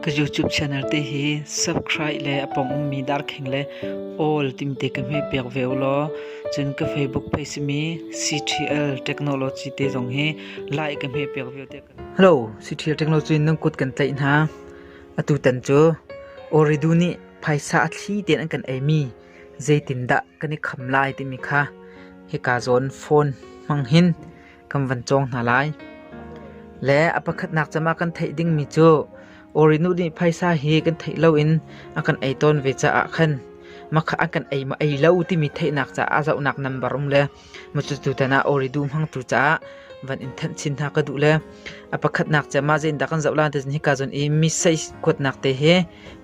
Ka YouTube channel te hi subscribe le a pong ummi darkheng le all timte ka hme piak ve u law cun ka Facebook page simi CTL Technology te zong hi like ka hme piak ve te ka Hello CTL Technology nan kut kan tlaih hna atu tan cu Oridu nih phaisa a thli ten an kan eimi zeitindah kan i kham lai timi kha hika zawn phone hmang hin kan van cawng hna lai. Le a pakhatnak cama kan theih dingmi cu Orinu nih phaisa hi kan theih loin a kan ei tawn ve caah khan makha an kan ei ma ei lo timi theihnak caah zohnak nambar um le matutu tan ah oridu hmangtu caah van in thanh chin hna ka duh le a pakhatnak cha ma zein da kan zoh la te ni ka zon i mi sei kuatnak te he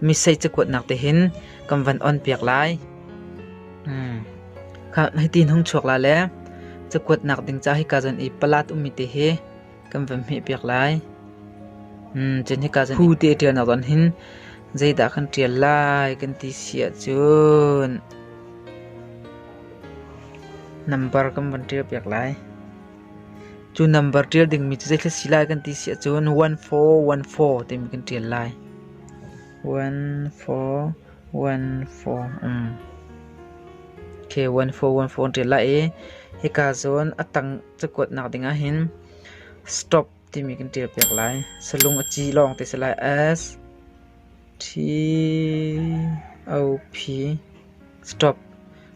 mi sei cha kuatnak te hin kan van on piak lai Hitin hung chuak la le cakuat nak ding ca hika zan i palat ummi te hi kan van hmeh piak lai. Cun hika zan phu te ṭial nak zon hin zeidah kan ṭial lai kan ti siah cun number kan van ṭial piak lai. Cu number ṭial dingmi cu zeitlai si lai kan ti siah cun 1414 timi kan ṭial lai. 14 an ṭial lai i hika zawn a tang cakuat nak ding ahhin stop timi kan ṭial piak lai. Salung a ci lawng te si lai S T O P stop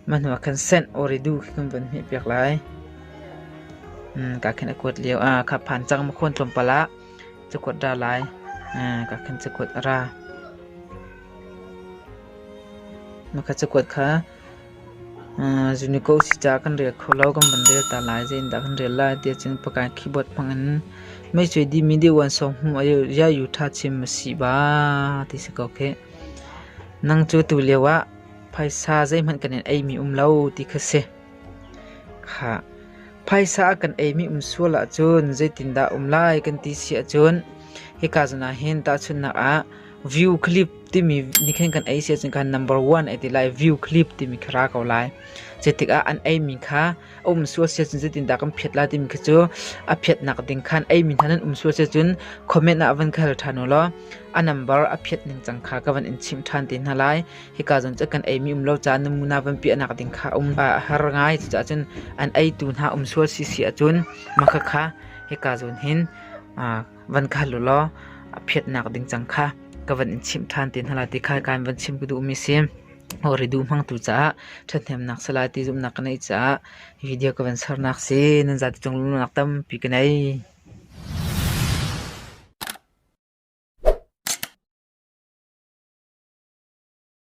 mah hnu ah khan send or redo khi kan von hmeh piak lai. Ka khan a kuat lio ah kha phan cang ma khuan tlawmpal ah cakuat ra lai. Ka khan cakuat a ra. Mah cakuat kha Unico si caah kan rel kho lo. Kan van rel ta lai. Zeitindah kan rel lai tiah cun Pakain keyboard hmangin mei cuai dihmi deuhvansawng hmuh iaiu ṭha chim a si ba ti si ko khih. Nang cu tu lio ah phaisa zeihmanh kan in eimi um lo ti kha si. Kha phaisa a kan eimi um sual ahcun zeitindah um lai kan ti si ahcun hika zawn ah hin tahchunhnak ah View clip timi nikhen kan ei si ahcun kan number one ai ti lai. View clip timi kha ra ko lai. Zeitik ah an eimi kha a um sual si ahcun zeitindah kan phiat lai timi khi cu a phiatnak ding khan eimi hna nan um sual si ahcun comment ah van khal ṭhan u law a number a phiat ning cang kha ka van in chimh ṭhan te hna lai. Hika zon cu kan eimi um lo caah namuna van piahnak ding kha um a har ngai. Cucaah cun an eitu hna um sual si si ahcun maka kha hika zon hin van kal u law a phiatnak ding cang kha ka van in chimh ṭhan te hna lai ti kha kan van chim ka duhmi si o ridu hmangtu caah ṭhathnemnak sa lai ti zumhnak ka neih caah video ka van sernak si nan zati cung lungnak tampi ka nei